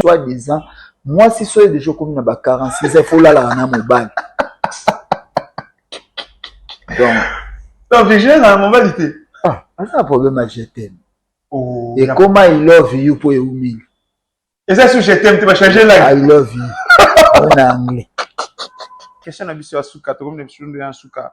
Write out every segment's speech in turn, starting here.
soit disant mwasi soki deja okomi na ba 46 ans folalaka na mobali donc donc virgile ezala mobali te ah, aza na problème ya jetem oh, ekoma i love you mpo eumeli eza su jetem te bachange lake i love you ona anglais question na biso ya suka tokomi na biso ndo ya suka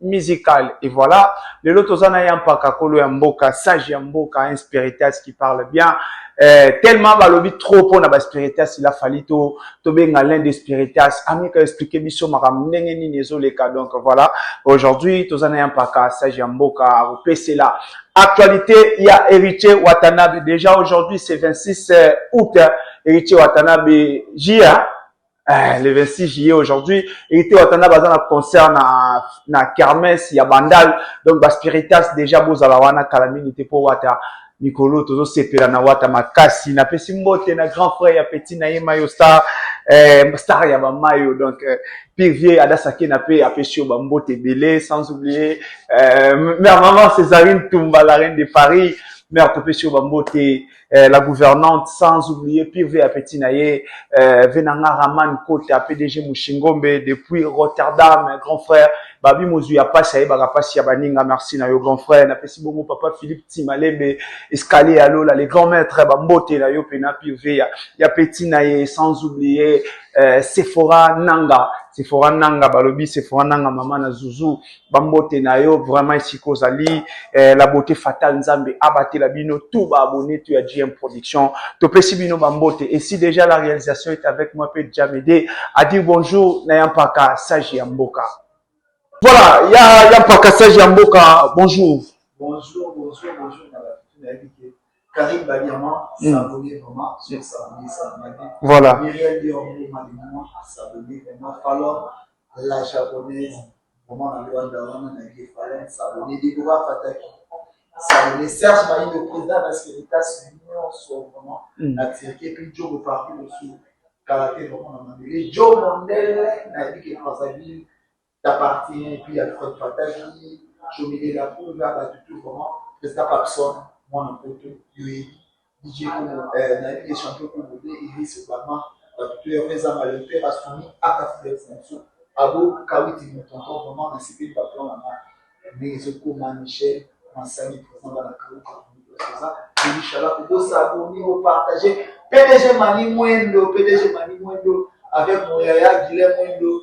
musical et voilà lelo toza na ya mpaka kolo ya mboka sage ya mboka un spiritas qui parle bien eh, tellement balobi trop mpo na baspiritas ila fali to tobenga l'un des spiritas amika explike biso makambo ndenge nini ezoleka donc voilà aujourd'hui toza na ya mpaka sage ya mboka akopesela actualité ya héritier watanabe déjà aujourd'hui c'est 26 euh, août héritier watanabe jia Eh, le 26 juillet aujourd'hui ete watanda baza na concert na, na kermes ya bandal donc baspiritas déjà bozala wana kala mingi te mpo wata mikolo tozosepela na wata makasi napesi mbote na grand frère ya petit na ye mayo star eh, star ya bamayo donc eh, pire vieux adasakena mpe apesi yo bambote ebele sans oublier eh, mère maman césarine tumba la reine de paris mère topesi yo bambote eh, la gouvernante sans oublier pire ve apeti na ye eh, ve na nga raman kota pdg mushingombe depuis rotterdam grand frère babi mozwi ya pasi ayebaka pasi ya baninga merci na yo grand frère napesi bongo papa philippe timalembe escalier ya lola le grand maître bambote na yo pena pire ve ya, ya peti na ye sans oublier eh, sephora nanga sephora nanga balobi sephora nanga mama na zuzu Bambote na yo vraiment esika ozali eh, la beauté fatale nzambe abatela bino tout ba abonné tout ya GM production topesi bino bambote et si déjà la réalisation est avec moi peut déjà m'aider à dire bonjour na yampaka sage ya mboka voilà ya yampaka sage ya mboka bonjour bonjour bonjour bonjour Karim Badiaman hmm. s'abonner vraiment sur sa vie, sa vie. Voilà. Muriel Dior, s'abonner vraiment. Alors, La japonaise vraiment na Luanda wana na Guefalen Salone ndeko ba fataki Salone Serge Mayindo président na Seritas nyonso vraiment mm. na Turquie et puis Jogo partout le sud karaté vraiment na Mandele Joe Mondele na yebi que Brazzaville t'appartient et puis Alfred Fataki Chomile la Pulga bato tout vraiment président Papson mwana poto yo yebi DJ Congo, eh, nayebi ke champion Congo de Iris Obama, bato pe yoko ezanga le père Asumi, aka flex na biso, abo kawiti mon tonton, vraiment nasepeli ba plan na nga, ndenge ezokoma Michel Masangi présent bana kawuka, oza Denis Shalaku, bo s'abonner, bo partager, PDG Mani Mwendo, PDG Mani Mwendo, avec mon yaya Guilhem Mwendo,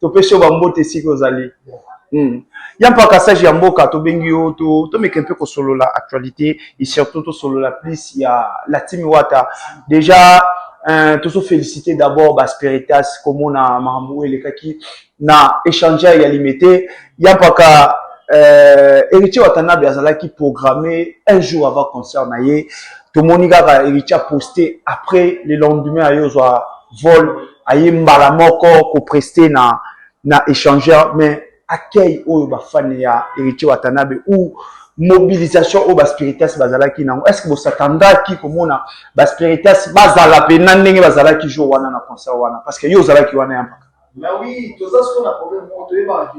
topesi yo bambote esika ozali hmm. ya mpa kasage ya mboka tobengi yo tomeka mpe kosolola actualité et surtout tosolola plus ya latimi wata déjà euh, tozo félicité d'abord basperitas komona makambo oyo elekaki na échange ya limete ya mpaka euh, héritier watanabe azalaki programme un jour avant concert na ye tomoni kaka héritier aposte après le lendemain aye ozwa vol aye mbala moko ko prester na na échangeur mais accueil oyo ba fan ya Héritier Watanabe ou mobilisation oyo ba spiritas bazalaki nango est-ce que bosatandaki komona ba spiritas bazala pe na ndenge bazalaki jour wana na concert wana parce que yo ozalaki wana ya mpaka mais oui toza siko na problème moko toyebaka te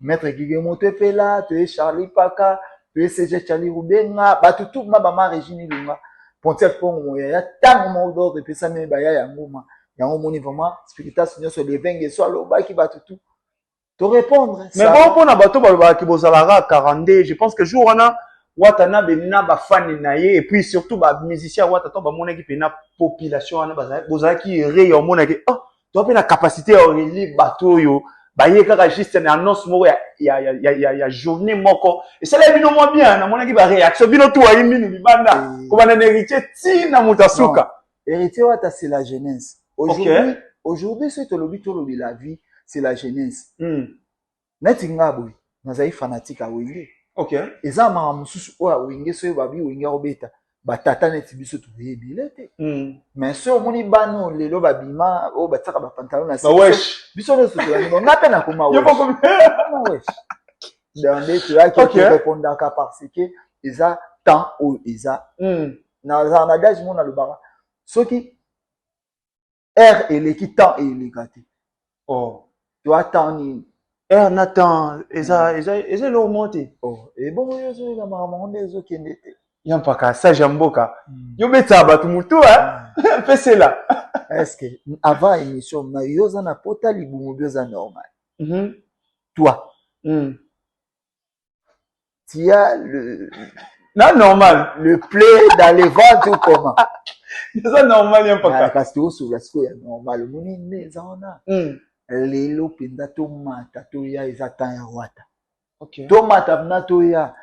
Maître Guiguet moto epela, toye Charlie Paka, toye CG Charlie Rubenga, bato tout ma bama Regine Ilunga, Pontiac Pongo Moyaya, tango mot d'ordre epesami baya ya Ngoma. Yango moni vraiment spiritas nyoso Levenge so alobaki bato tout to répondre. Mais bon pona bato balobaka ki bozalaka 42, je pense que jour wana Watanabe na ba fans na ye et puis surtout ba musiciens ya Wata to bamonaki pena population wana bozalaki heureux ya omonaki oh to mpe na capacité ya relire bato oyo baye kaka juste na annonce moko ya, ya, ya, ya, ya, ya journée moko esalaki bino mwa bien namonaki baréaction bino tu ayi minu libanda mm. kobanda na héritier ti na moto asuka héritier wata c'est la jeunesse aujourd'hui okay. aujourd'hui soki tolobi tolobi la vie c'est la jeunesse mm. neti nga boye nazali fanatique ya wenge okay. eza maka mosusu oyo ya wenge soki babi wenge akobeta batata neti biso tokoye ebele te mm. mais soki omoni bana oyo lelo babima oyo batiaka bapantalon na biso nyonso toyaningo nga mpe nakoma wesh dande toyaki korepondaka parce que eza temps oyo eza mm. nazala na dage mona alobaka soki heure eleki temps eleka te oh to attend nini heure na temps eza mm. eza eza eloko moko te oh ebongo yo ozoyela makambo yango nde ezokende te ya mpaka sage ya mboka mm. yo betaka bato motu mm. pesela estce avant émission na yo oza na pota libumu bi oza normal mm -hmm. toi mm. tu as le na normal le play dans le ventre ou comment eza normal ya mpaka kasi tokosola sikoyo ya normal omoni nde eza wana hmm. lelo mpenza tomata toya eza temps ya wata tomata mna toya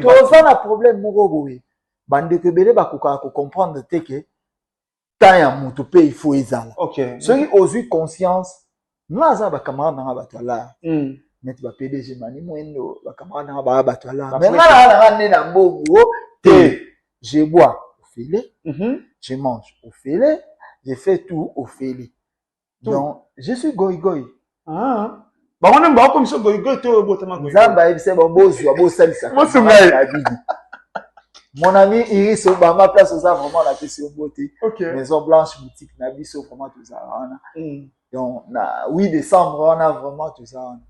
toza na problème moko boye bandeko ebele bakokaka kocomprendre te ke temps ya moto mpe il faut ezala okay. soki ozwi conscience nga aza na bacamarade nanga bato ya lar mm. neti ba pdg mani mwendo bacamarade nanga baa bato ya lar me nga naa nanga nde na mbongo te mm. je bois ofele mm -hmm. je mange ofele je fais tout ofele Tout. donc je suis goigoi Ah. bango nde baokomisa goigoi to obotama goigoi. nzambe ayebisa bango bozwa bosalisa Bosunga ye. abidi mon ami iris obama place oza vraiment na pesi yo mbote ok maison blanche boutique na biso vraiment tozala wana Mm. donc na 8 décembre wana vraiment toza wana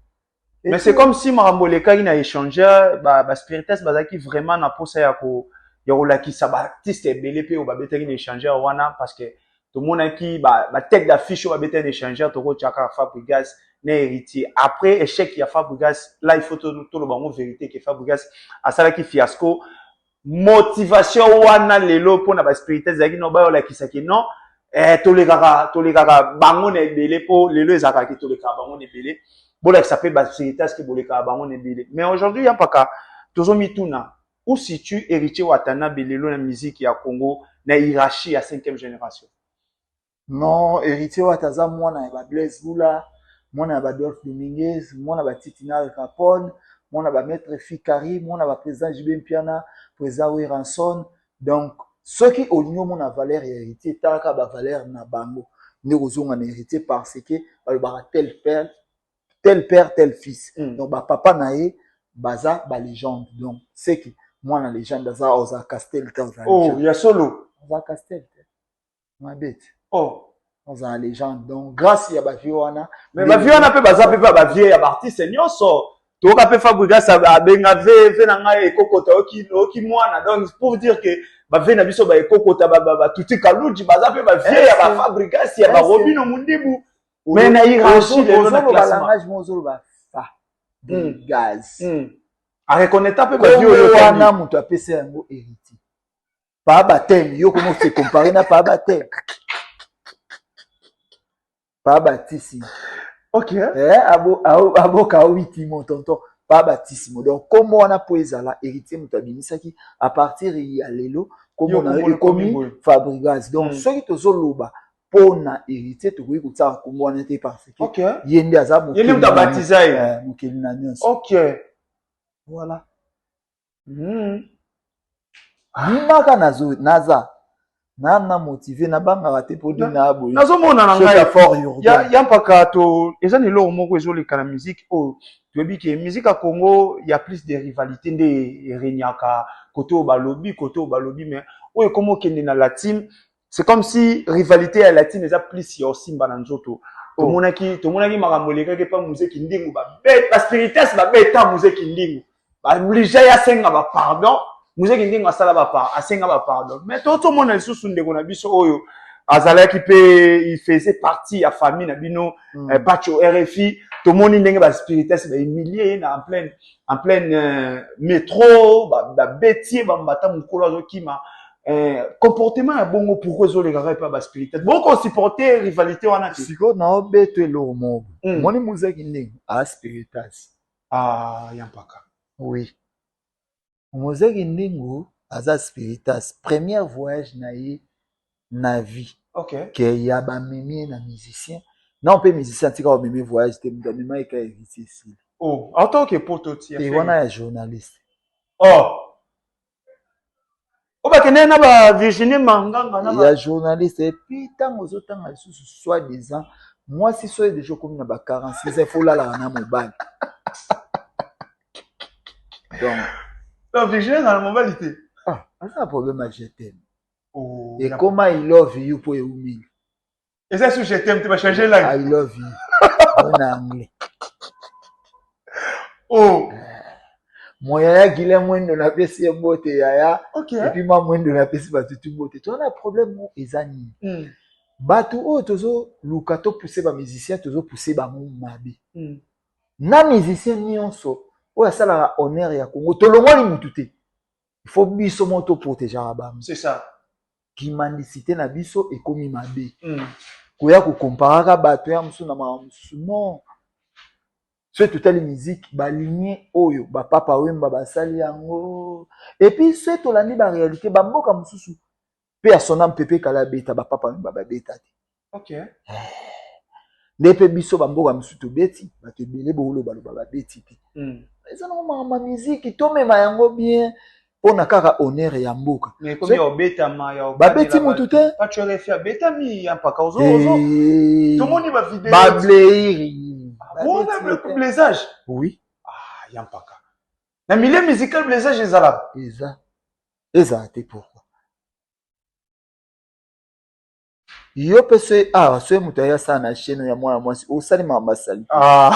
mais c'est comme si makambo elekaki na échangeur ba, ba spirites bazalaki vraiment na posa ya ko ya kolakisa baartiste ebele mpe oyo babetaki na échangeur wana parce que tomonaki batete d'affiche oyo babetaki na échangeur tokotyaka fabrigas na héritier après échec ya fabrigas là il faut toloba yango vérité ke fabrigas asalaki fiasco motivation wana lelo mpo na baspirites ezalaki no bayo olakisa ke non eh, tolekaka tolekaka bango na ebele mpo lelo ezalaka ke tolekaka bango na ebele bolakisa mpe baspirites ke bolekaka bango na ebele mais aujourd'hui ya mpaka tozomituna où situe héritier watanabe lelo na musique ya congo na hierarchie ya cinquième génération non héritier wata aza mwana ya bablaise bula mwana ya badolphe dominguez mwana batitinal capone mwana bamaître fikari mwana baprésident jb mpiana président weranson donc soki olingi omona valeur ya héritier etalaka bavaleur na bango nde kozonga na héritier parce que balobaka tel père tel père tel fils mm. donc bapapa na ye baza balégende donc seke mwana legende aza oza castel te oh, ya solo aza castel te mabe te oh ozala legende donc grâce ya bavie wana mais bavie wana mpe baza mpe mpe bavie ya baartiste nyonso toyoka mpe fabrigas abenga veve na ngai ekokota oyoki mwana donc pour dire que bavie na biso baekokota batuti kaluji baza mpe bavie ya bafabrigas ya barobino mundibu mais na hierarchie lelo na classement Hmm. gaz hmm. areconnaitre mpe bawana moto apesa yango héritier pa bateme yo komo se compare na pa bateme pa batisi okay. eh, abo, abo, aboka owiti mon tonton pa batisimo donc nkombo wana mpo ezala héritier moto abimisaki à partir ya lelo nkombo na yo ekomi fabrigas donc mm. soki tozoloba mpo na héritier tokoki kotiaka nkombo wana te parce que okay. ye nde aza mokeli na eh, nyonso okay. voilà hmm. bimaka nazo naza na na motive na bangaka te mpo nini na boye nazomona na ngai fort urbain ya mpaka to eza na eloko moko ezoleka na musique oyo toyebi ke musique ya congo ya plus de rivalité nde eregnaka kote oyo balobi kote oyo balobi mais oyo ekoma okende na latine c'est comme si rivalité ya latine eza plus ya osimba na nzoto oh. tomonaki tomonaki makambo elekaki epa muze kindingu baspiritas babeta muze kindingu balija ye asenga bapardon muze kindingu asala asenga bapardon mais totomona lisusu ndeko na biso oyo azalaki mpe il faisait partie ya famille na bino mm. eh, pacho rfi tomoni ndenge baspiritas bahumilie ye na en pleine en pleine euh, metro ba, ba betie ba mbata mukolo azo kima euh, comportement ya bongo pourquoi ezo leka kaka epa ba spirituel boko supporter rivalité wana te siko na obeto eloko moko mm. moni muzaki ndenge a spiritas ah ya mpaka oui muzaki ndingu aza spiritas première voyage na ye na vie okay. ke ya bamemie na musicien na mpe musicien atika bamemie voyage te moto amema eka ya vitie esili oh, aoke poto ti te wana ya journaliste oh. obakende na ba virginie manganga na ya journaliste epi ntango ozotanga lisusu soit disant mwasi soki deja okomi na ba 46 fo olalaka na mobali donc donc virginie ezala mobali te ah, aza na problème ya jeteme Oh, ekoma i love you mpo eu mingi eza su je t'aime te bachange langue i love you na anglais oh mon yaya guilin mwendo napesi ye mbote yaya okay. epuis ma mwendo napesi batutu mbote to na problème moko eza nini mm. bato oyo tozoluka topuse bamusicien tozopuse bango mabe mm. na musicien nyonso oyo asalaka honneur ya congo tolongoli motu te il faut biso moko toprotegeaka bango c'est ça kimandisite na biso ekomi mabe mm. koya kokomparaka bato ya mosusu na mawa mosusu non soki totali miziki balinie oyo bapapa wemba basali yango epuis soki tolandi barealité bamboka mosusu mpe ya sona mpe mpe kala abeta bapapa mpe babeta te okay. Eh. nde mpe biso bamboka mosusu tobeti bato ebele boolobaloba babeti te mm. eza nango makambo ya miziki tomema yango bien mpo na kaka honneur ya mboka babeti motu te bableiri oui ah, ya mpaka na milieu musical blesage ezalaka eza ezala te pourkui yo mpe soki awa ah, soki moto aye asala na chaine ya mwana mwasi osali mama basali ah,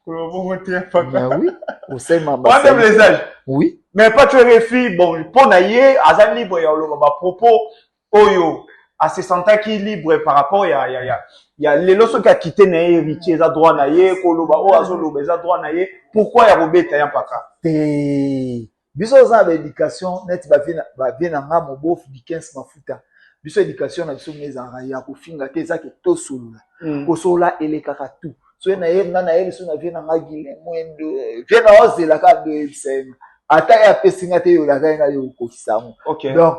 oui osali mama basali oui mais pas tu refi bon mpo na ye aza libre ya koloba bapropos oyo a se sentaki libre par rapport ya, ya, ya, ya lelo soki akite na ye héritier eza droit na ye koloba oyo azoloba eza droit na ye pourquoi ya kobeta ya mpaka te biso oza na baéducation neti bavie na nga mobof dikens mafuta biso éducation na biso ezalaka ya kofinga te eza ke tosolola mm. kosolola elekaka tout soki naye nga naye biso na vie na nga gile mwendo vie na ozelaka ado yebisa ye ata ye apesi nga te yolaka ye nga ye okokisa yango donc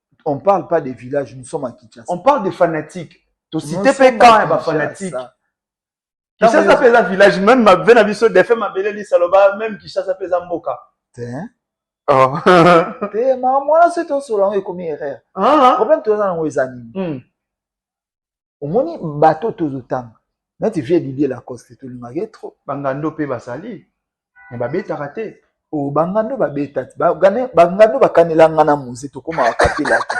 On parle pas des villages, nous sommes à Kinshasa. On parle des fanatiques. To cite pe camp ya ba fanatiques. Kinshasa pe eza village, même ma vie na biso defe mabele li saloba, même Kinshasa pe eza mboka. Te. Oh. Te ma mwana se to solo yango ekomi erreur. Ah. Problème to eza nango eza nini? Hmm. omoni bato oyo tozotanga neti vie didie lacoste tolingaka ye trop bangando mpe bazali me babetaka te o oh, bangando babeta te bangando bakanela nga na moze tokomaka kapela te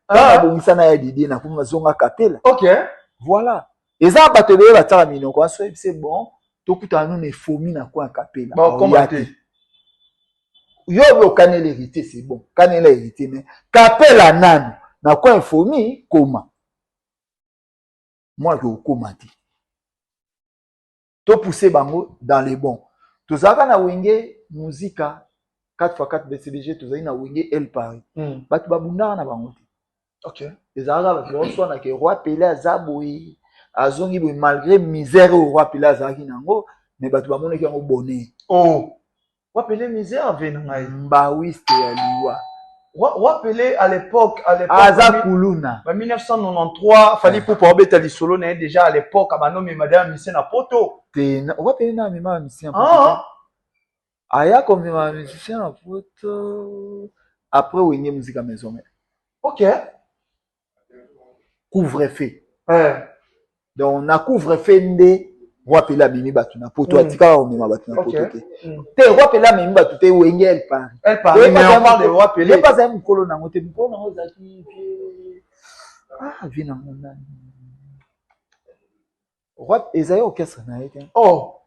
ah. abongisa na ya didie nakomi bazonga kapela ok voilà eza bato ebele batiaka minoko asoyebise bon tokutana nuna efomi na coin kapela baokoma te yo obi okaneli héritier c'est bon kanela héritier mais kapela nanu na ko informi koma mwana tokokoma te topousse bango dans le bon tozalaka na wenge muzika 4 fois 4 bcbg tozali na wenge el paris mm. bato babundaka na bango te okay. ezalaka bato baoswana ke roi pele aza boye azongi boye malgré misère oyo roi pele azalaki na yango me bato bamonaki yango bone oh. roi pele misère ave na ngai mbawiste ya liwa roi pele à l'époque aza kuluna ba 1993 fali eh. pupa obeta lisolo na ye déjà à l'époque abanomema da ya mise na poto te roi pele na amema ya mise na poto ah, ah. aya komema ba musicien na poto après wenge musika maison mère ok couvre feu eh. donc na couvre feu nde roi pele amemi bato na poto mm. atikaka komema bato na poto te mm. te roi pele amemi bato te wenge el parisepasa ye mokolo nango te mokolo nango ezalaki ah, vie nango nani roi ezali orchestre na ye te oh.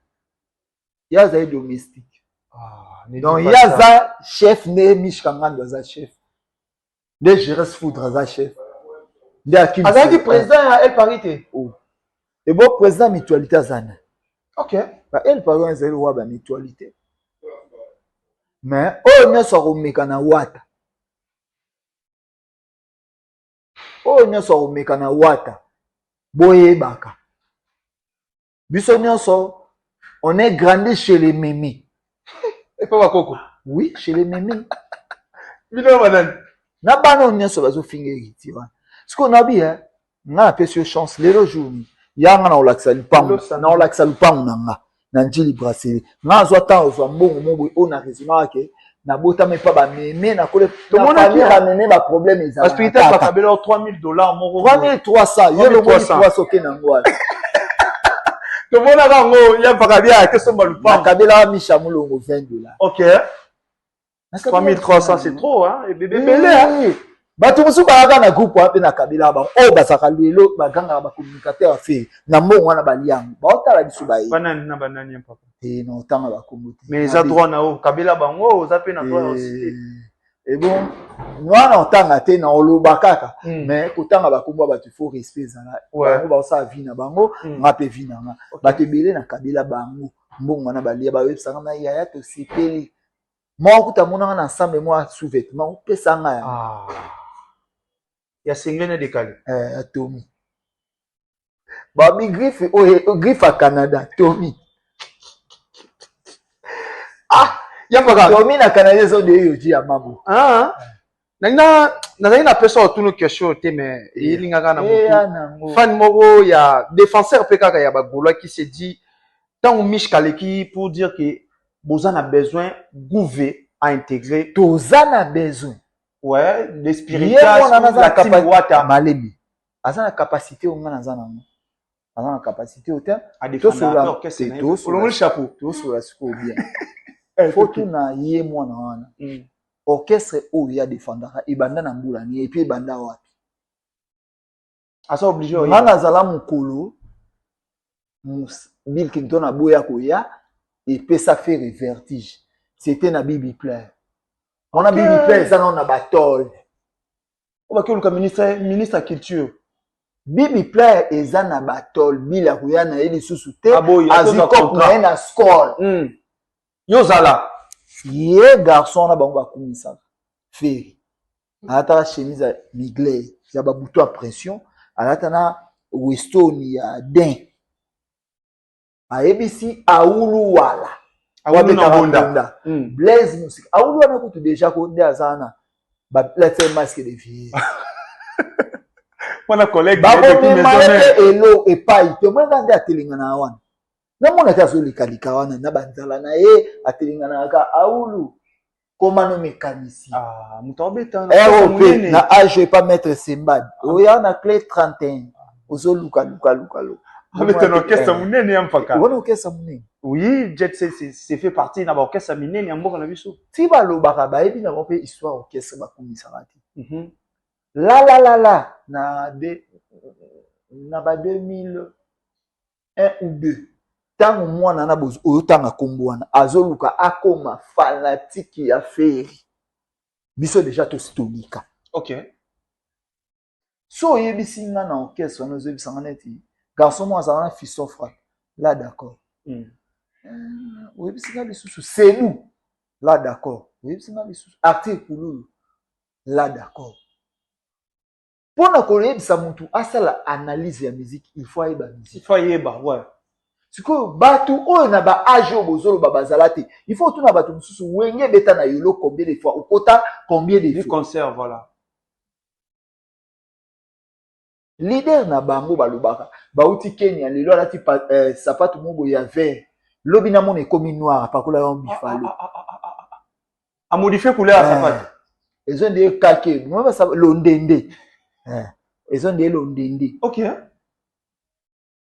ye azali domestique ah, donc ye aza chef nde mishka ngandu aza chef nde géresse foudre aza chef nde akim azalaki président ya el paris te oh. ebo président mutualité aza na ok ba el paris wana ezali wa ba mutualité mais oyo nyonso akomeka na wata oyo nyonso akomeka na wata boyebaka biso nyonso on est grandi chez les mimi epa bakoko oui chez les mimi bino banani na bana oyo nyonso bazofinga eriti wana sikoyo nabi eh, nga napesi yo chance lelo jour nini yanga naolakisa lupangu naolakisa lupangu na nga na njili brasserie nga azwa ntango ozwa mbongo mo boye oyo na raisonnaka ke nabotama epa bameme nakole famille bameme baproblème ezalakabela 3000 dollar moko 3300 yo loboni 300 oke nango wana tomonaka yango ya mpakabia akesomba lupango nakabelaka misha molongo 20 dollar okay 3300 c'est trop hein ebebe ebele hein bato mosusu bayaka na groupe wana mpe na kabila bango oyo bazalaka lelo bagangaka bacommunicateur ya fere na mbongo wana balia yango baotala biso baye banani na banani papa e na otanga bakombo te mais eza droit na yo kabila bango oza mpe na droit ya osite ebon noa na otanga te na oloba kaka hmm. mais kotanga bakombo ya bato fo respect ezala bango baosala vi na bango hmm. nga mpe vi na nga bato ebele na kabila bango mbongo wana balia bayebisanga na yaya tosepeli moko kuta amonanga na ensemble mwa sous-vêtement opesa nga ya ah. ya single na dekale eh, ya tomi babi griffe oyo oh, eh, griffe ya canada tomi ah yambaka tomi na canada ezo de eyoji ya mambo ah. nanga nazali na pesa otunu question te mais eyelingaka na motu fan moko ya défenseur mpe kaka ya bagolois qui se dit ntango mishka aleki pour dire que boza na besoin gouve a intégré toza na besoin ouais le spirituel la capacité malemi aza na capacité oyo ngai naza nango aza na capacité oyo te tosolola sikoyo bien eh, fo tuna ye mwana wana hmm. orchestre oyo ye adefendaka ebanda na mbula nie epuis ebanda wapi nga nazala mokolo bill clinton aboya koya epesa fere vertige c'était na bibi plaire wana bibi plaire eza nao na batole oyo baki oluka ministre ministre ya culture bibi player eza na batol bila koya na ye lisusu te azwi cop na ye na scole hmm. yo ozala ye garçon wana bango bakumisaka feri alataka chemise ya migle ya babuto ya pression alata na westone ya din ayebisi aulu wala wabetaka hmm. blaise musika aulu wana kutu deja ko nde aza wana balatisa ye masque de vie wana collègue bakomema ye elo epai temoinga nde atelengana wana namona te azolikalika wana na banzala na ye atelenganaka aulu koma no mekanisi ah, moto abeta rop na age epa maître sembad ah. oya na cle 31 ozoluka luka luka luka abeta na orchestre monene ya mpaka wana orchestre monene oui jet se fait partie na baorchestre minene ya mboka na biso ti balobaka bayebi na bango mpe histoire orchestre bakumisaka te mhm. lalalala na de na ba 2000 un ou deux ntango mwana na bozo oyotanga nkombo wana azoluka akoma fanatiki ya feri biso deja tosi tolika okay. so oyebisi nga na orchestre wana ozoyebisa nga neti garçon moko azala na fiston frak la d'accord mm. uh, oyebisi nga lisusu selu la d'accord oyebisi nga lisusu artir kululu la d'accord mpo na koyebisa motu asala analyse ya miziki il faut ayeba miziki il faut ayeba ouais. sikoyo bato oyo na baage oyo bozoloba bazala te il faut otuna bato mosusu wenge ebeta na yolo combien de fois okota combien de fois concert voilà leader na bango balobaka bauti kenya lelo alati eh, sapato moko ya vert lobi namona ekomi noir apakola yango bifalo ah, ah, ah, a modifier couleur ya eh. sapato ezo nde kake bima ba londende eh. ezo nde londende okay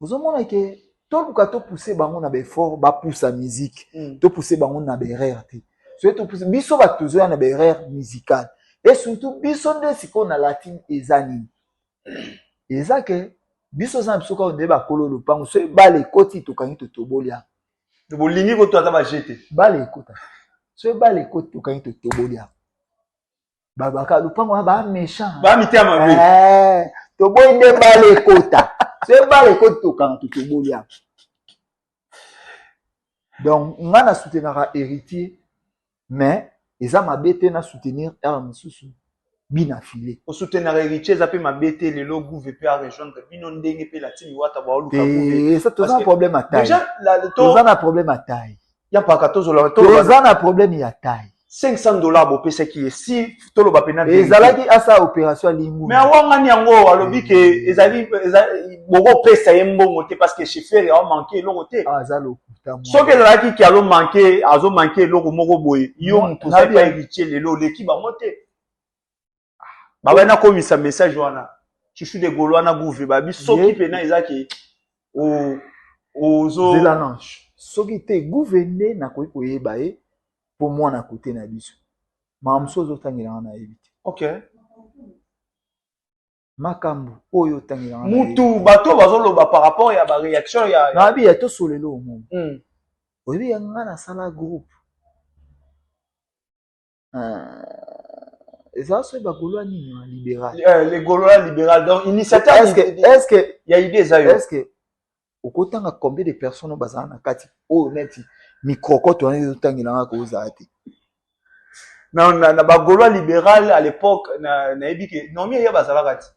ozomona ke toluka topuse bango na baeffort bapusa musique mm. topuse bango na baerreur te soki topuse biso bato tozoya na baerreur musicale e surtout biso nde sikoyo na latine eza nini eza ke biso oza na biso kaka nde bakolo lopango soki bala ekoti tokangi totoboli yango bolingi ko to ata ba jete bala ekota so bala ekota okangi to toboli yango babaka lupango wana ba méchant ba mitya mabe eh, toboyi nde bala ekota so bala ekota tokanga to toboli yango donc nga na soutenaka héritier mais eza mabe te na soutenir heure mosusu bina file kosoutenir héritier eza mpe mabe te lelo gouve mpe arejoindre bino ndenge mpe latimi wata baoluka eza toza na problème ya taille toza na problème ya taille ya mpaka tozoloba toza na problème ya taille 500 dollars bopesaki ye si toloba mpe na ezalaki asala opération ya lingu mais awangani yango alobi ke mm. ezali bokopesa ye mbongo te parce que chefere aomanke eloko te ah, soki ezalaki ke azomanke azomanke eloko moko boye yo moto ozali pa héritier lelo oleki bango te ah, babali nakomisa message wana chuchu de golo wana gouve babi soki mpena eza ke ozo soki te gouvene nakoki koyeba ye mpo mwana kote na biso makambo mosusu ozotangela nga nayebi te okay. makambo oyo otangela nga mutu bato bazoloba par rapport ya baréaction ya nayebi ya tosolelo omoni mm. oyebi ya nga nasala groupe eza euh, soki bagoloa nini ya libéral eh, les goloa libéral donc initiative est-ce que ya idée eza yo est-ce que okotanga combien de personnes oyo bazala na kati oyo neti mikrokote wana ezotangela nga kozala te na, na, na bagolois libéral à l'époque nayebi na ke nomi eye bazalaka ti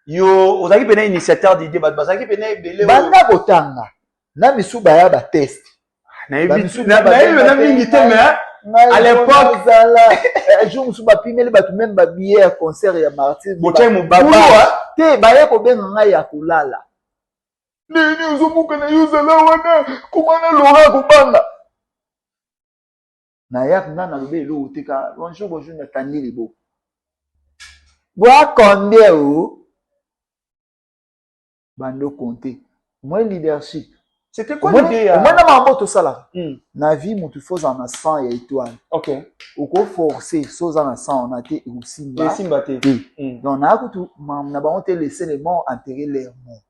yo ozalaki mpena initiateur d'idée bato bazalaki mpena ebele banda kotanga na misu baya bateste nayebi na mingi te mais à l'époque zala eh, jour mosusu bapimeli bato meme babillet ya concert ya martyr botai mobaba te baye kobenga ngai ya kolala nini ozobuka na yo zala wana koma na lora akobanga nayak nga naloba eloko te ka bonjour bonjour natandi libo bwa combien o oh? bando compte moi leadership C'était quoi l'idée Moi, na mambo tout ça là. Hmm. Na vie, mon tu fais en sang et étoile. Ok. Ou quoi forcer, chose en sang, on a été au Simba. Le Simba, t'es. Donc, na kutu, na ba on te laisser les morts enterrer l'air. bon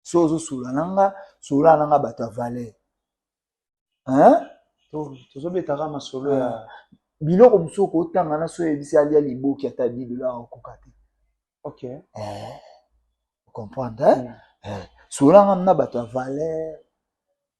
so ozosolola na nga solola na nga bato ya valeur tozobetaka masolo ya ah. biloko mosusu okotanga na so oyebisi alia liboki ata bilola okoka te ok eh, comprendre hmm. eh, solola nga na bato ya valeur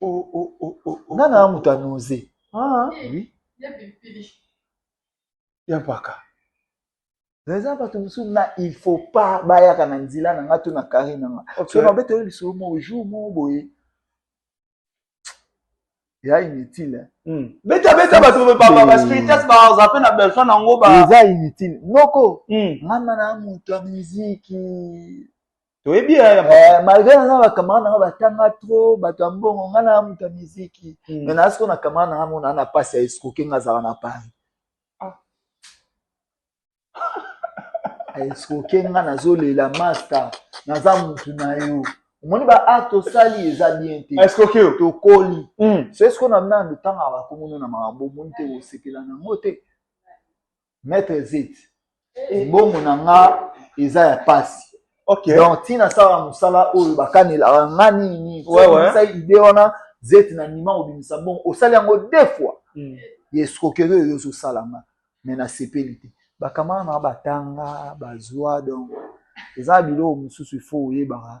oh, oh, oh, oh, oh. nga naa moto anose ah, oui. ya mpaka eza bato mosusu na il faut pas bayaka na nzela na nga to na kare na nga okay. so nabeteli lisolo mo jour mo boye eza inutile hmm. beta beta bato bapapa baspiritas baza mpe na besoin na yango eza inutile noko hmm. mama na moto ya miziki toyebi ya ya ba- Eh, malgré nanga bacamarade nanga batanga trop bato ya mbongo ngai na moto ya miziki Mm. mais naa sikoyo na camarade nanga mona na pasi ya escroke nga azala na paris Ah. escroke nga nazolela masta naza motu na yo omoni ba art osali eza bien te Est-ce que okay? tokoli Mm. so esiko na nando ntangaka bakomono na makambo omoni te kosepela nango te Maître Zit, mbongo na nga eza ya pasi. Okay. Donc tina sala musala oyo bakanela nga nini ouais, ouais. idée wana Zet na nima obimisa mbongo osali yango deux fois mm. ya escroquerie oyo ozosala nga mais nasepeli te bakamana na batanga bazwa donc eza biloko mosusu ifo oyebaka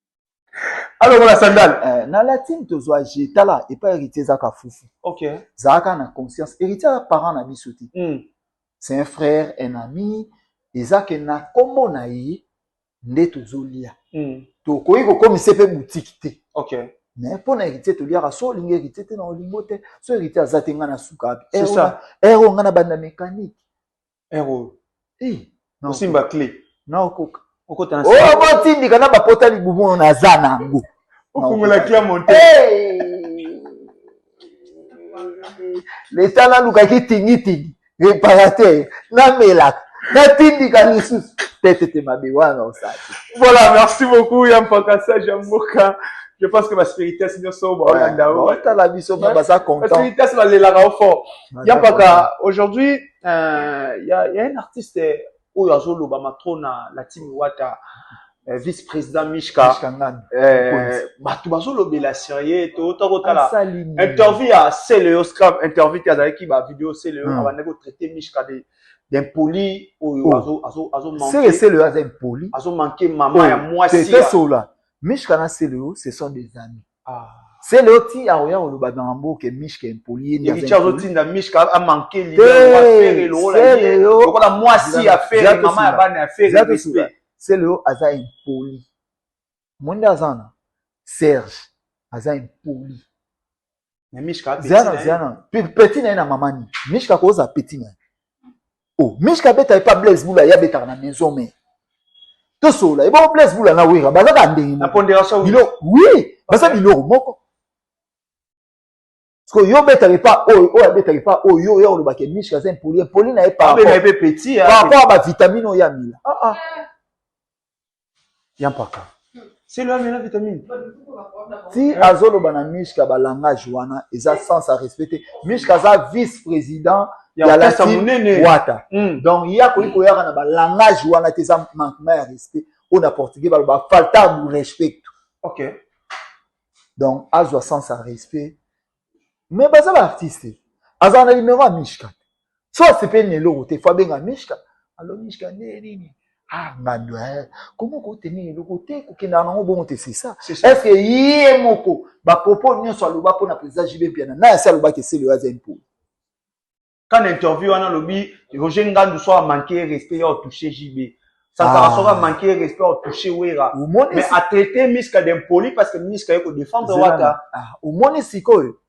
alongola sandale eh, na latine tozwa je tala epai héritier ezaka fufu okay. zalaka na conscience héritier aza parent na biso te mm. c'est un frère un ami eza ke na nkombo na ye nde tozolia mm. tokoki kokomisa mpe butiki te okay. mais mpo na héritier toliaka so olingi héritier te na olingo te so héritier aza te ngai na suka api ero ngai na banda mécanique heure oyo eh, osimba cle naokoka okota na oyo botindika na bapota libumu oyo naza na yango ofungola cle monte leta nalukaki tingitingi reparateur namelaka natindika lisusu tetete mabe wana osala voilà merci beaucoup ya mpaka sage ya mboka je pense que baspiritas nyonso baolanda otala biso baza content baspiritas balelaka o fort ya mpaka aujourd'hui Euh, il euh, y, y a un artiste oyo azoloba matro na latimi wata euh, vice président mishka euh, bato bazolobela serie touta kotala interview ya celeo scrab interview te azalaki bavideo celeo hmm. abandaki kotraite mishka de d'impoli oyo oh. azomankeceleo aza impoli azomanke mama ya oh, mwasi sola mishka na celeo ce sont des amis se leo ti akoya koloba na yango ke mishka impoli ye ndekici azotinda mishka amanke lilokola mwasi ya fere mama ya bana ya fere se leo aza impoli omoni nde aza wana serge aza impoli zana zana peti na ye na mamani mishka akozala peti na ye oh michke abeta epa blaise bula ye abetaka na maison mai tosolola ebongo eh, blaise bula na wera baza kaka ndenge wi baza biloko moko siko yo obetaka epa oyo oh, oyo oh, abetaka epa oyo oh, yo oya olobaka michke aza impoli impoli na ye par rapport ya bavitamine oyo amela ah, ah. ya mpaka selo amela vitamine ti azoloba na mishka balangage wana eza sans a respecte mishka aza vice président ya latine wata hmm. donc ye akoki koyaka na balangage wana te eza manquement ya respect oyo na portugais baloba falta du respecto okay. donc azwa sans a respect me baza ba artiste te azala na limero ya mishka te so asepeli na eloko te fo abenga mishka alo mishka nde nini ah ngando eh, koma kotenena eloko te kokendaka nango bongo te c'est ça estce ye moko bapropos nyonso aloba mpo na président jb mpiana na yasi alobaki esele oyo aza impoli Quand interview wana lobi Roger Ngandu soit manqué respect au toucher JB. Sankara ah. soit manqué respect au toucher Wera. Mais a traité Miska d'impoli parce que Miska yeko défendre Wata. Ah, au moins sikoyo.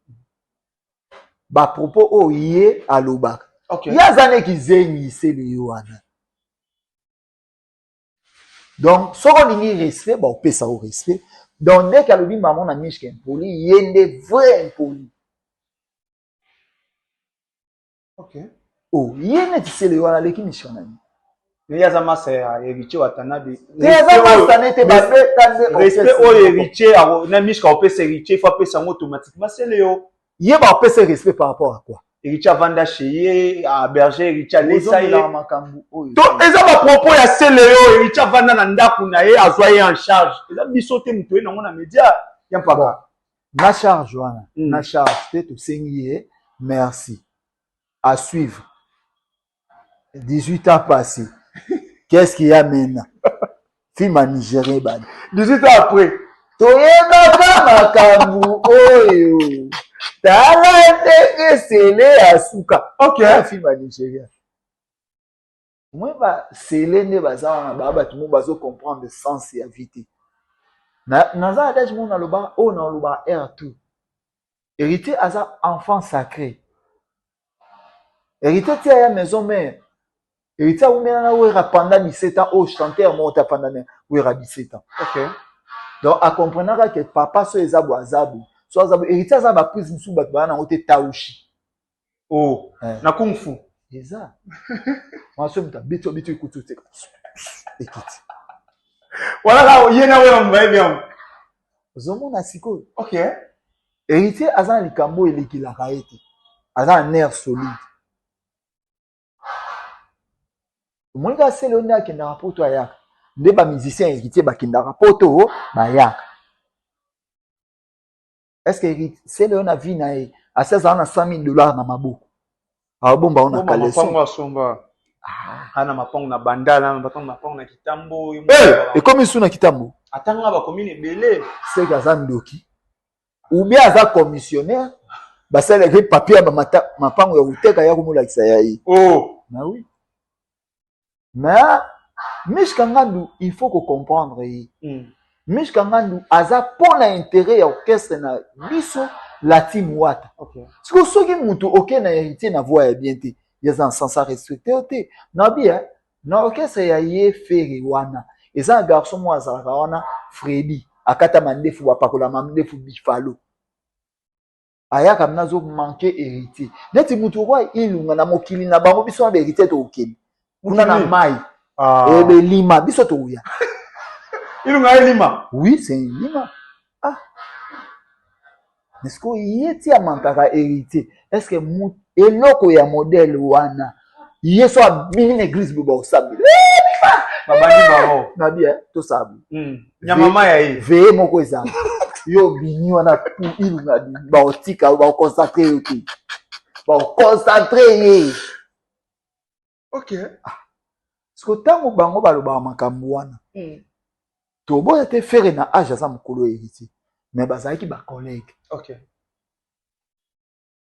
Ba propos oyo ye alobaka. Okay. Ye aza nde kizengi seli yo wana. Donc soki olingi respect ba opesa yo respect. Donc ndeke alobi maman na Miska impoli ye nde vrai impoli. okay. oh, ye neti sele wana aleki mission na ye ye aza masa ya héritier watanabe respect oyo héritier na misko akopesa héritier fo apesa yango automatiquement sele yo ye baopesa respect par rapport à quoi héritier avanda chez ye aberger héritier alesa ye to eza bapropos ya sele yo héritier avanda na ndako na ye azwa ye en charge eza biso te moto ye nango na média ya mpaka na charge wana mm. na charge te tosengi ye merci à suivre 18 ans passé qu'est-ce qu'il y a maintenant film ya nigérien ebandi 18 ans après toyebaka makambo oyo tala ndenge sele ya suka okay. film ya nigérien omoni basele nde baza wana baa bato mo bazo comprendre sens ya vie te naza adage moko nalobaka oyo nalobaka air tout héritier aza enfant sacré héritier ti aya maison mère héritier awumela na wera panda 17 ans oyo chanteur moko te apanda na wera 17 ans okay. donc akomprenaka ke papa so eza bo aza bo so aza bo héritier aza baprise mosusu bato baya nango te taushi oh eh. na kung fu eza maso moto abeti abeti ekutu te ekiti walaka oye na oyo mbayebi yango ozomona sikoyo okay héritier aza na likambo oyo elekelaka ye te aza na nerf solide omoni kaka sele oyo nde akendaka poto ayaka nde bamusicien héritier bakendaka poto bayaka est-ce que Eric c'est le na vie na ye asi azala na 100 000 dollars na maboko abomba ona kaleson asomba ah. ana ah, mapango na bandala mapango mapango na kitambo eh, ekomi su na kitambo atanga ba commune ebele c'est que aza ndoki ou bien aza commissionnaire basalaki papier ya mapango ya koteka ya komolakisa ya ye oh. na oui mais miche kangandu il faut ko comprendre ye mm. miche kangandu aza mpo na intérêt ya orchestre na biso la team wata okay. siko soki moto oke na héritier na voix ya bien te yaza na sensa respecte yo te nabi eh, na orchestre ya ye fere wana eza na garçon moko azalaka wana fredi akata mandefu bapakola mandefu bifalo ayaka mna azo manke héritier neti motu okwa ilunga na mokili na bango biso na baheritier tokokende kuna na mai ah. ebe eh, lima biso tokoya ilunga ye lima oui c'est lima ah mais sikoyo ye ti amankaka héritier est ce que eloko ya modèle wana yesu abimi na eglise boye bakosambela babandi bango nabi eh, tosala hmm. nyamama ya ye veye moko ezala yo obimi wana ilu na bimi bakotika yo bakoconcentre yo te bakoconcentre ye ok ah. siko ntango bango balobaka makambo wana hmm. toboya te fere na age aza mokolo ya héritier mais bazalaki bacollègue okay.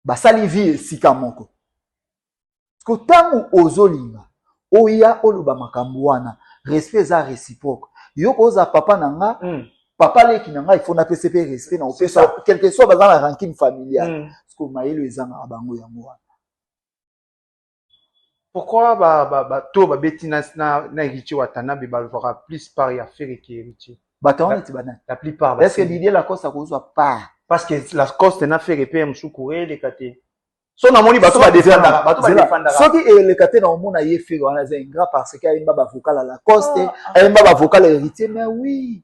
basali vie esika moko siko ntango ozolinga oya oloba makambo wana respect eza réciproque yo koza papa na nga mm. papa leki na ngai fo napese mpe respect na opesa quelque soit baza na rancune familiale mm. siko mayelo ezangaka bango yango wana Pourquoi ba ba ba to ba beti na na na héritier Watanabe ba luvaka plus part ya Ferre que héritier. Bato wana ti bana. La plupart ba. Est-ce que Didier Lacoste akozwa part? Parce que Lacoste na Ferre pe musu courrier les katé. So na moni bato ba defanda ba to ba defanda. So ki ele katé na omona ye Ferre wana za ingra parce que ayemba ba vocal à Lacoste, ah. ayemba ba vocal héritier mais oui.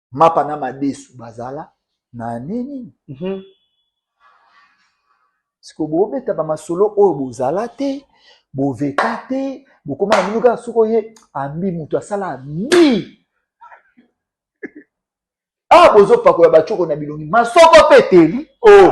mapa na madesu bazala na nini mm -hmm. siko bobeta bamasolo oyo bozala te boveka te bokoma na bino kaka soki oye ambi moto asala ambi awa ah, bozopakola bacoko na bilongi masoko mpe eteli o oh.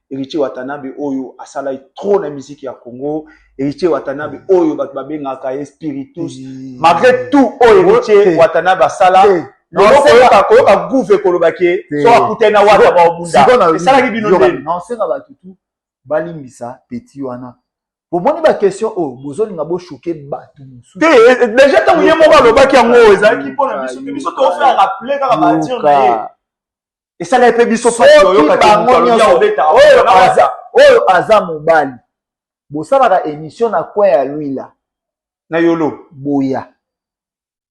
Heritier Watanabe oyo asala trop na musique ya Congo. Heritier Watanabe mm. oyo bato babengaka ye spiritus. Mm. Malgré tout oyo Heritier Watanabe asala loloko koyoka koyoka gouve koloba ke so akutani na wata baobunda esalaki bino ndeni naosenga bato tu balimbisa peti wana bomoni baquestion oyo bozolinga boshoke bato mosusu te eh, eh, deja ntango ye moko alobaki yango oyo ezalaki mpo na biso te biso toofela raple kaka baatire na ye esalaki mpe biso soki bango nyonso oyo aza oyo aza mobali bosalaka émission na coin ya luila na yolo boya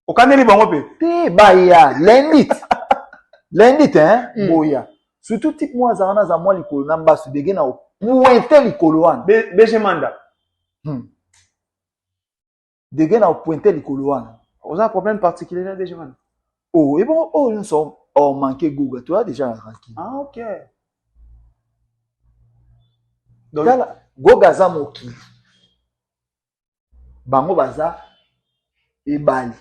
okaneli bango mpe te baya lendit lendit hein mm. boya surtout type mwa azalaka na aza mwa likolo na mbasu dege na pointe likolo wana bege manda hmm. dege na pointe likolo wana oza problème particulier na deje wana oh ebo oyo oh, nyonso or manque goga toya deja na ranki ah, ok Donc, tala goga aza mokili bango baza ebale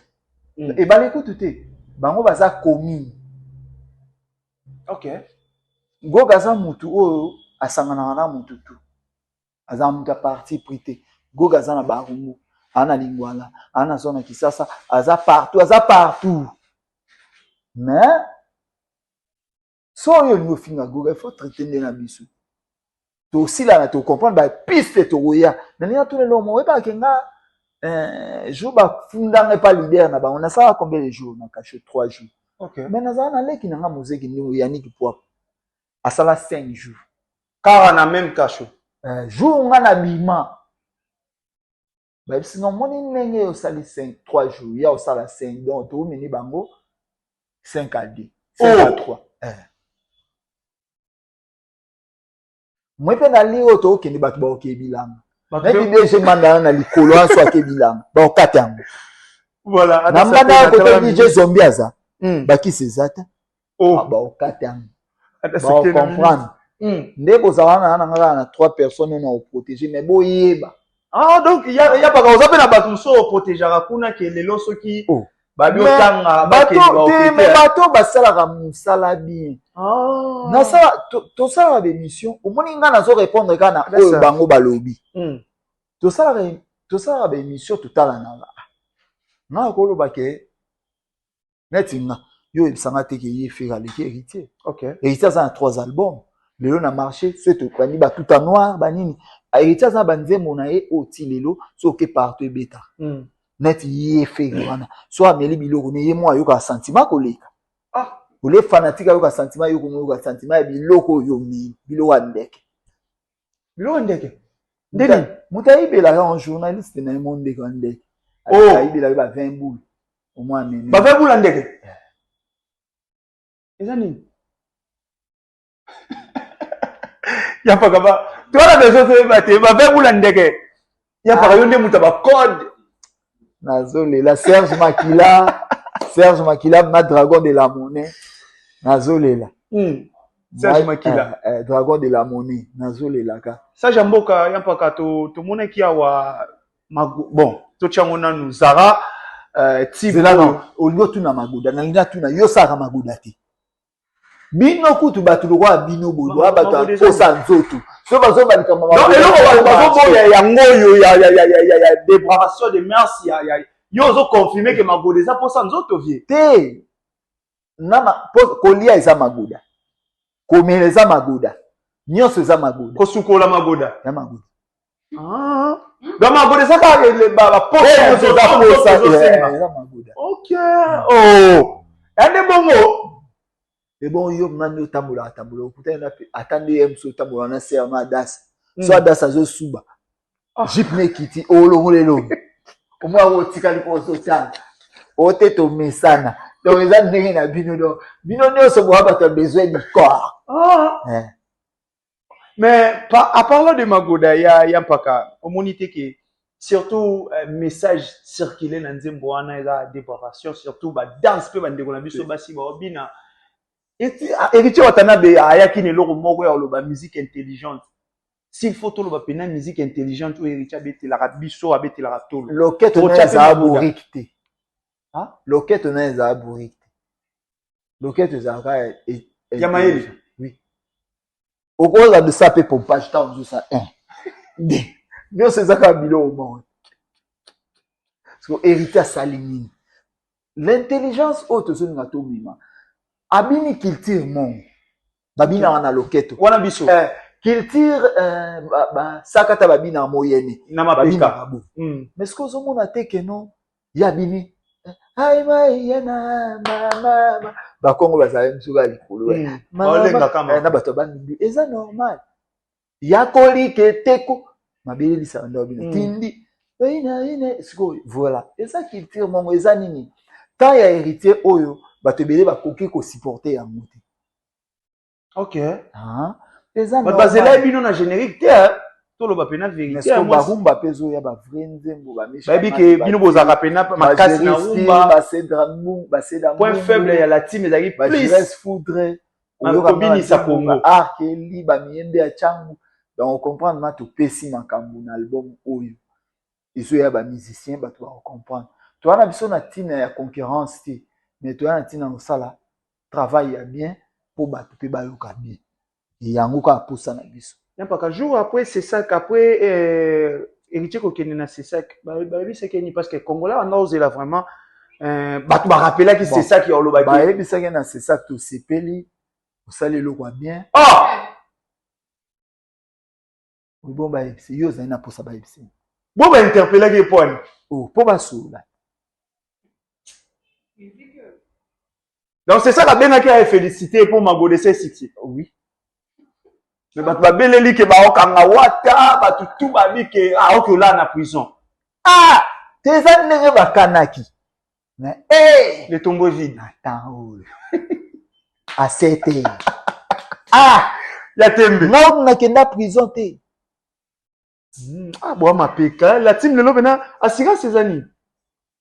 mm. ebale kutu te bango baza commune ok goga aza mutu oyo asanganaka na mutu tu aza mutu ya parti pris te goga aza na barumbu aza na lingwala aza na zona kisasa aza partout aza partout mais so oyo olingi ofinga goga ifo traite nde na biso tosilana tocomprendre bapiste tokoya nalingi atuna eloko oyebaka ke nga eh, jour bafundanga epa leader na bango nasala combien de jour na kasho trois jours okay. mais nazala na leki na nga mozeki ndenge yaniki pwapa asala 5 jours kara na meme kasho eh, jour nga na bima bayebisi nga omoni ndenge yo osali 5 3 jours ya osala 5 donc toumini bango 5 à 2 5 à 3 eh. moi mpe nali oyo tokokende bato bakokee bilanga nayebi dg mandana na likolo anso ake bilanga bakokata yango na mbanda ya kote dj zombi aza hmm. bakisi eza te oh. ah, baokata yango baocomprendre hmm. nde bozala na nanga kaka na trois personnes oyo na oprotege mais boyeba ah, donc ya baka oza mpe na bato mosusu oprotegeaka kuna ke lelo soki oh. babi otanga bakende bato basalaka mosala bien ah. nasala tosalaka bemission omoni ngai nazo répondre kaka na oyo bango balobi hmm. tosalaka bemission totalanaka ngai akoloba ke neti nga yo oyebisa nga te ke ye fere aleki héritier okay. héritier aza na trois albums lelo na marché soki tokani batuta noir banini héritier aza na banzembo na ye oyo ti lelo soki oke partout ebeta mm. neti ye fere mm. wana so ameli biloko ne ye mwa ayokaka sentiment koleka ah. ole fanatique ayoka sentiment yokomoyoka sentiment ya biloko oyo omeli biloko ya ndeke biloko ndeke ndeke moto ayibela yo en journaliste na ye mo ndeke wa ndeke oh. ayibela yo ba 20 boule omwa amemi ba 20 boule ya ndeke eh. eza nini ya pakaba towana bezo toyeba te ba 20 boule ya ndeke ya paka yo nde moto ya bacode nazolela serge makila serge makila na dragon de la monnaie nazolela hmm. serge makila eh, eh, dragon de la monnaie nazolelaka sage ya mboka ya mpaka tomonaki to awa mago, bon totyango nanu zara uh, eh, tizelana olingi otuna magoda nalingi atuna yo saka magoda te bino kutu bato lokola bino bodoa bato ya kosa nzoto so bazoba likambo eloko bazoboya yango oyo ya depravation de mers ya yo ozoconfirme ke magoda eza mposa nzoto vie te kolia eza magoda komela eza magoda nyonso eza magoda kosukola magoda ya magoda Ah. Donc magoda eza kaka elemba ba posa eh, eza posa eh, ezosenga. Eza magoda. OK. Oh. Yande bongo. Et bon yo mani otambola atambola okutana na ata nde ye mosu otambola na se ya ma adasa. Hmm. So adasa azosuba. Ah. Jeep ne kiti olongoli elongi. Omwa otikali mpo ozotanga. Ote tomesana. Donc eza ndenge na bino donc bino nyonso boa bato ya besoin du corps. Ah. Eh. mais pa, à parlant de magoda ya ya mpaka omoni te ke surtout euh, message circule na nzembo wana eza depravation surtout ba danse mpe bandeko na biso basi baobina ah, héritier watanabe ayaki na eloko moko ya koloba musique intelligente s'il faut toloba mpena musique intelligente oyo héritier abetelaka biso abetelaka tolo loketo na eza bourrique te loketo na eza bourrique te loketo ezalaka ya mayele oui okozala de ça pe pompage ntango ozo sa un de nyonso eza kaka biloko moko siko hérité asali nini l'intelligence oyo tozolinga tomema abimi culture mongo babinaka na loketo wana biso eh. culture eh, basakata ba, babinaka moyemi na mapeka bo mm. mais soki ozomona te ke non ye abimi eh, aimaiyana mamama bakongo bazali mosuka likolo eh. mm. na bato ya bandundu eza normal yakoli keteko mabele lisaka ndoa bino mm. tindi ina ina sikoyo voilà eza culture mongo eza nini temps ya héritier oyo bato ebele bakoki kosupporte yango te ok ah. eza bazelai bino na générique te toloba pena veritebarumba mpe ezoya bavrai nzembo bayebi ke bino bozalaka pena makasi na rumba point faible ya latime ezalaki plus foudre kobinisa kongo arkeli bamiyembe ya cangu donc ocomprendre ma topesi makambo na album oyo ezoya bamusicien bato bakocomprendre toya na biso na ntina ya concurrence te mais toya na ntina ya kosala travail ya bien mpo bato mpe bayoka bien yango kaka mposa na biso na paka jour après sesak après euh, héritier kokende na sesak bayebisaki ye nini parce que congolais wana ozela vraiment euh, bato barapelaki Bon. sesak ya olobaki bayebisaki ye na sesak tosepeli osali eloko ya bien oh! obo bayebisi yo ozali na mposa bayebisi ye. bo bainterpelaki ye mpo ani Oh, mpo basolola donc c'est ça babengaki aye félicité mpo magode se succès oui mais bato babeleli ke baokanga wata bato tu babi ke aoki ah, olaa na prison ah te eza ndenge bakanaki mais hey! le tombeau vide attends oyo oh. asete ah ya tembe ngai nakenda prison te Hmm, ah, bwa mapeka la team lelo pena assurance eza nini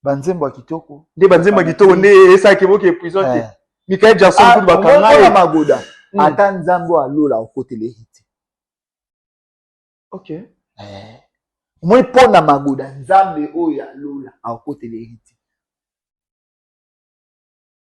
banzembo ya kitoko nde banzembo ya kitoko nde esaki boke epuisant te eh. mikael jackson ah, kutu bakanga ye magoda hmm. ata nzambe ya lola okotela ehiti ok eh. moi mpo na magoda nzambe oyo ya lola akotela ehiti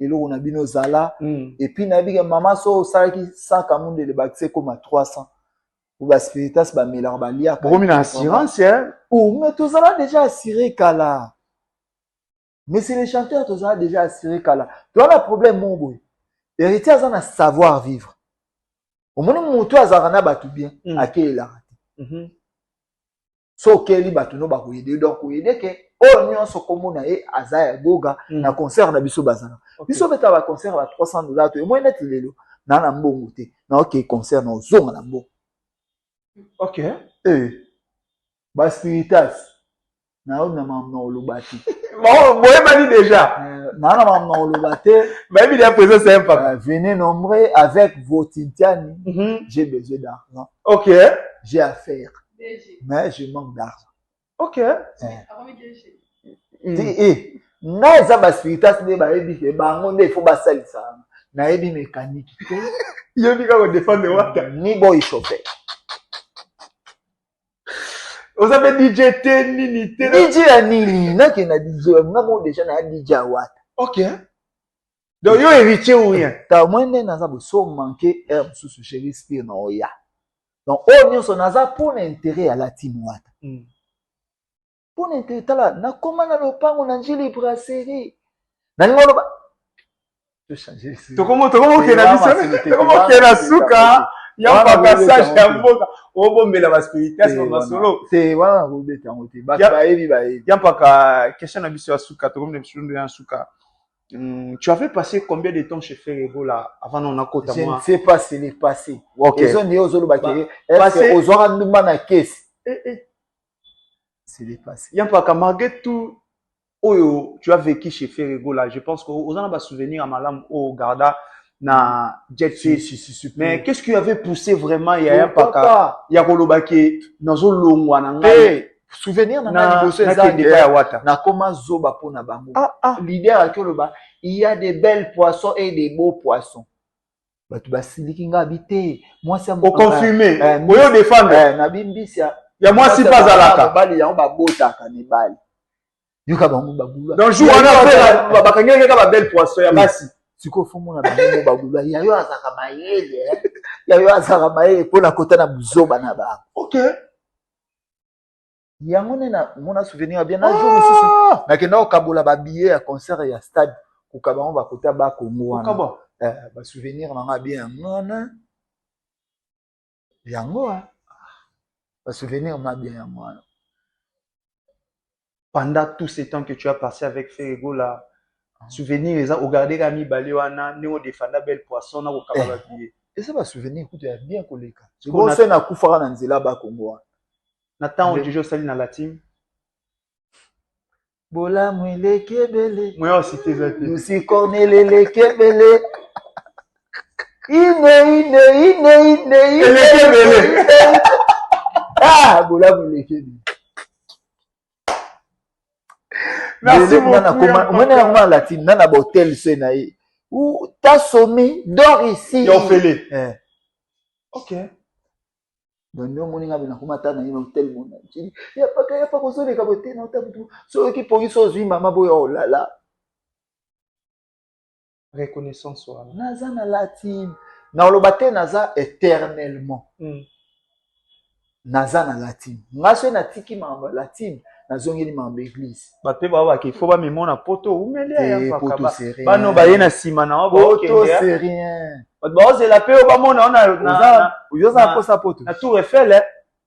eloko na bino zala mm. et puis nayebi ke mama so osalaki 100 kamundele bakisa ekoma 300 po baspiritas bamelaka baliaka bokomi na assurance oh, mais tozala déjà assuré kala mais c'est les chanteurs tozala déjà assuré kala toza na problème moko boye héritier aza na savoir vivre omoni motu azalaka na bato bien mm. akelelaka te mm -hmm. so okeli bato no bakoyede yo donc oyede ke oyo nyonso nkombo na ye aza ya goga mm. na concert na biso bazala okay. biso obetaka baconcert ya ba 300 dollar to emoi neti lelo naa na mbongo te na okei concert na ozonga na mbongo ok e eh. baspiritas nayo na mamu na oloba te boyebani déjà eh, naa na mamu na oloba te bayebi deya présence ya mpaka eh, venez nombre avec votintiani mhm. j'ai besoin d'argent ok j'ai affaire mais je manque d'argent ok eh. te e ngai eza baspiritas nde bayebi ke bango nde ifo basalisa nayebi mekaniki te yebi kaka odefendre wata ni boy chauffeur oza mpe dj te nini te dj ya nini nakenda dj nga moko deja naya dj ya wata ok donc yo héritier ou rien kamwende naza boso manke heure mosusu chéri spire na oya donc oyo nyonso naza mpo na intérêt ya lati mwata mm. mpo na intérêt tala nakoma na lopango na njili brasserie nalingi oloba tokomokena suka ya pakasage ya mboka obombela baspiritas na masolo te wana kobeta yango te bato bayebi bayebi ya mpaka question na biso ya suka tokomina biso ndo ya suka Hmm, tu avais passé combien de temps chez Ferre Gola avant non akota moi Je ne sais pas si le passé. OK. Ezo ndio zolo ba ke. Passé ozo ra ndumba na caisse. Eh eh. C'est le passé. Yampa ka malgré tout oyo tu as vécu chez Ferre Gola, je pense que aux ba souvenir à malam au garda na jet si, si, si, si, mais qu'est-ce qui avait poussé vraiment ya Yampa ka ya koloba ke nazo longwa na ngai. souvenir na ngai liboso eza nakoma zoba mpo na bango ah, ah. leader ake oloba il y a de belles poissons et de beaux poissons bato basiliki ngai abi te mwasi oconfirme eh, eh, oyo defendre eh, na bimbisi ya mwasi mpe azalaka mobali yango babotaka mibali yoka bango bagulwa donc jour wana mpe bakangeli kaka babelle poisson ya basi sikoyo fo mona bango bagulwa yayo azalaka mayele yayo azalaka mayele mpo na kota na buzoba na bango okay. yango nde na mona souvenir ya bien na jour mosusu ah! nakenda kokabola babillet ya concert ya stade kokaba yango bakota ba congo wana eh, basouvenir na nga bien yango wana yango basouvenir ma bien yango wana pendant tout ce temps que tu as passé avec Ferre Gola ah. souvenir eza ogarde kaka mibale wana ndenge odefanda belle poisson na kokaba eh. bato ye eza basouvenir kutu ya bien koleka se nakufaka na nzela bakongo wana na ntango deja osali na latine bolamu eleki ebele moya osite eza te lusi cornele eleki ebele ine ine ine ine ine eleki ebele ah bolamu eleki ebele merci beaucoup mwana yango na latine na na ba hotel se na ye ou ta sommet dort ici ya ofele eh. ok bando omoni nga benakoma ata na ye na hotel mona jili ya paka ya paka ozoleka boye te na ota butu soki pongi so ozwi mama boya olala oh reconnaissance wana naza na latin naoloba te naza éternellement mm. naza na latin nga soki natiki makambo ya latin nazongeli makambo ya eglise bato mpe bao bake fo bamimona poto umeliabano eh, baye na nsima na rien bato baozela mpe oyo bamona oza kosa poto na tour efele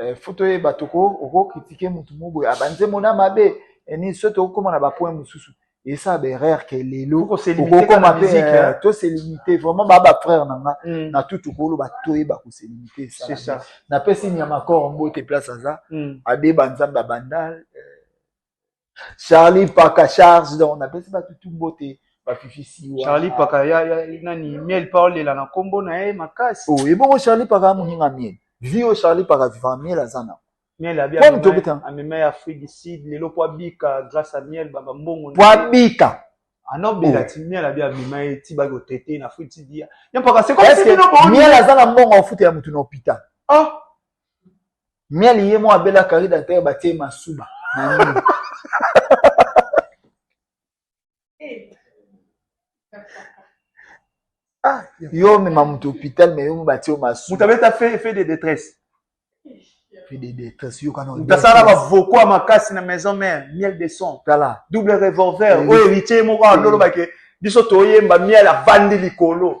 eh, faut toyeba toko okokritike motu mo boye abanze mona mabe eni eh, so tokokoma na bapoint mosusu esa berere ke lelo okokoma mpe eh, toselimite vraiment baa bafrère na nga mm. na tutu koloba toyeba koselimite esala napesi nyama koro mbote place aza mm. abeba nzambe abandal Charlie Paka charge donc na pesi batu tout mbote ba fifi siwa. Charlie Paka ya, ya nani miel parole la na kombo na ye makasi. Oh et bon Charlie Paka muninga miel. Vio Charlie Paka vivant miel azana. Miel abi amema ya Afrique du Sud lelo po abika grâce à miel ba mbongo. Po abika. anobela ah oh. ti miel abi amema ye ti ba ko traiter na Afrique du Sud ya. Ya Paka c'est comme si bino bo. Miel azana mbongo afuta ya mutu na hôpital. Ah. Miel ye mo abela carré dentaire batie masuba na nini ah, yo mema moto hôpital mais yo batie masuba moto abeta fait fait de détresse fait de détresse yo kana moto asala ba vocaux ya makasi na maison mère miel de son tala double revolver oyo héritier moko alolobake biso toyemba miel avandi likolo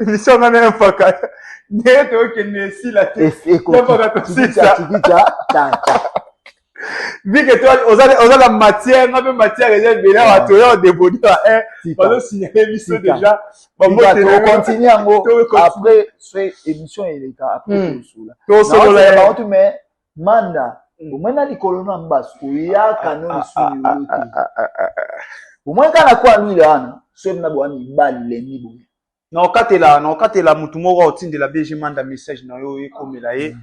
emission nga na mpaka nde tokende esila te mpaka tosisa bike oza na matière nga mpe matière eza ebele awa toya odeboni wa eh, bazosignale biso deja bamoteokontinue yango après soki émission eleka après tosolola hmm. tosolola yango te mais manda omoi na likolo na mbasi oyaka no lisuni oyo te omoi kaka na kwa lwila wana soki na boya mibali lembi boye na okatela na okatela motu moko otindela bg manda message na yo ekomela ye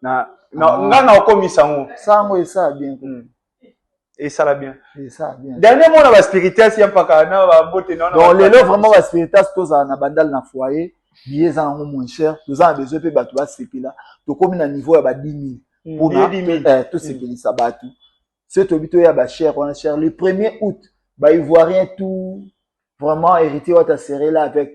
na nga na okomisa yango sango esala bien esala bien dernier mot na baspiritas ya mpaka na bambote donc lelo vraiment baspiritas tozala na bandal na foyer biye eza nango moins cher toza na besoin mpe bato basepela tokómi na niveau ya ba 10 000 mpona eh, tosepelisa bato se toyebi toya bachere wana chere le premier août baivoirien tout vraiment héritier wata serela avec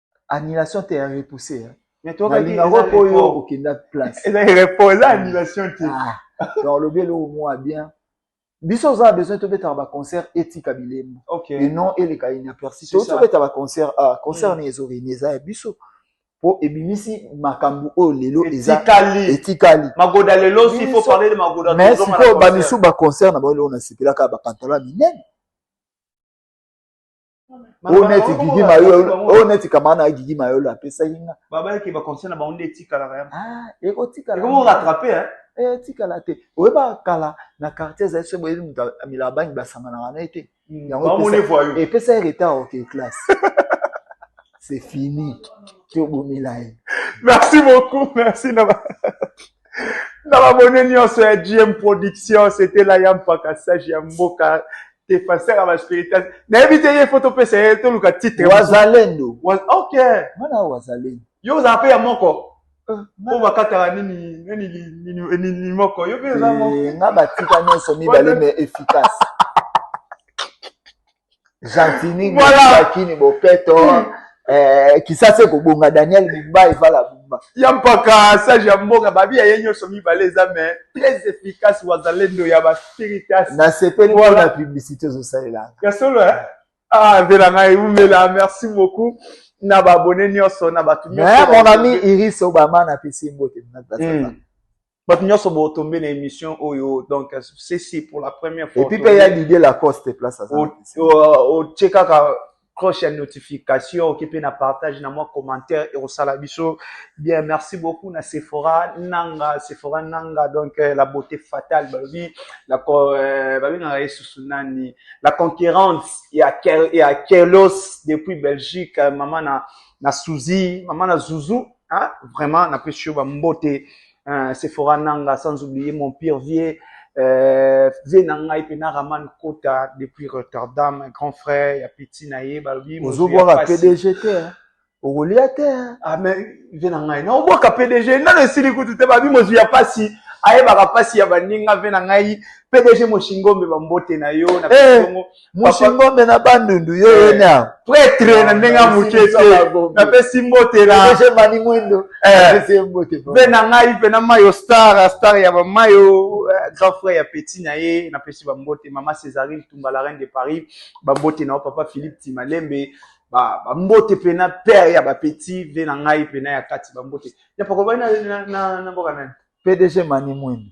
annulation te ya repousse hein. mais to ba linga ko po yo ko kenda place eza repos eza annulation te ah, donc lobi eloko mwa bien biso oza besoin to beta ba concert etika bilembo okay. et non eleka inaperçu to to beta ba concert ah concert mm. ni ezo rene eza biso po ebimisi makambo oyo lelo etikali etikali magoda lelo si faut parler de magoda mais sikoyo bamisu ba concert na bango eloko nasepelaka ba pantalon ya minene oyo neti gigi mayolo oyo neti kamara na gigi mayolo apesaki nga babayeke baconcert na bango nde etikalaka ya ah, ekotikalaekomoratrape eh, etikala te oyeba kala na quartier ezali soki boyebi moto amilaka bangi basanganaka na ye te hmm, yangoepesa ye retard oke classe c'est fini tobomela ye merci beaucoup merci na na babone nyonso ya gm production c'était la ya mpaka sage ya mboka defenseur ya baspiritas nayebi te ye fo topesa ye toluka titre wazalendo ok mwana wazalendo yo ozala mpe ya moko eh, mpo bakataka nini nini moko yo mpe oza moko eh, nga batika nyonso mibale mais efficace gentini ngakini bopeto hmm. eh, kisasa ekobonga daniel bumba evala bumba ya mpaka sage ya mboka babi ya ye nyonso mibale eza me très efficace wazalendo ya baspiritas nasepeli mpo na publicité ozosalelaka ya solo eh? ah, vela ngai umela merci beaucoup na baabone nyonso na bato nyonso mon ami iris obama napesi ye mbote hmm. Bato nyonso bo tomber na emission oyo donc ceci pour la première fois. Et puis pe ya Didier Lacoste place à ça. O tche kaka cloche ya notification oke pe na partage na mwa commentaire et osala biso bien merci beaucoup na Sephora nanga Sephora nanga donc euh, la beauté fatale balobi la euh, babi nanga esusu nani la concurrence ya ya Kelos depuis Belgique euh, maman na na Suzy maman na Zuzu hein? vraiment napesi yo bambote hein, sephora nanga sans oublier mon pire vieux euh, vie na ngai mpe na raman kota depuis rotterdam un grand frère ya piti na ye balobi moto ya ozobwaka pasi. pdg te hein? okolia te hein? Ah, mais vie na ngai na obwaka pdg nano esili kutu te babi mozwi ya pasi ayebaka pasi ya baninga vie na ngai pdg moshingombe bambote na yo na Eh. pesi bongo Mushingombe na Bandundu yo eh. yena pretre na ndenge ya moke te napesi mbote na mani mwendo mpe eh. na ngai mpe na mayo star star ya bamayo eh, grand frère ya petit na ye napesi bambote mama césarine tumba la reine de paris bambote na yo papa philippe timalembe bambote mpe na père ya bapetit mpe na ngai mpe na ya kati bambote ya pakobani na mboka nani pdg mani mwendo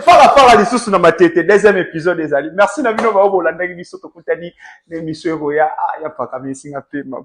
fara fara lisusu na matete deuxième épisode ezali merci na bino baoyo bolandaki biso tokutani na émission ekoya ah, ya pakami esinga pema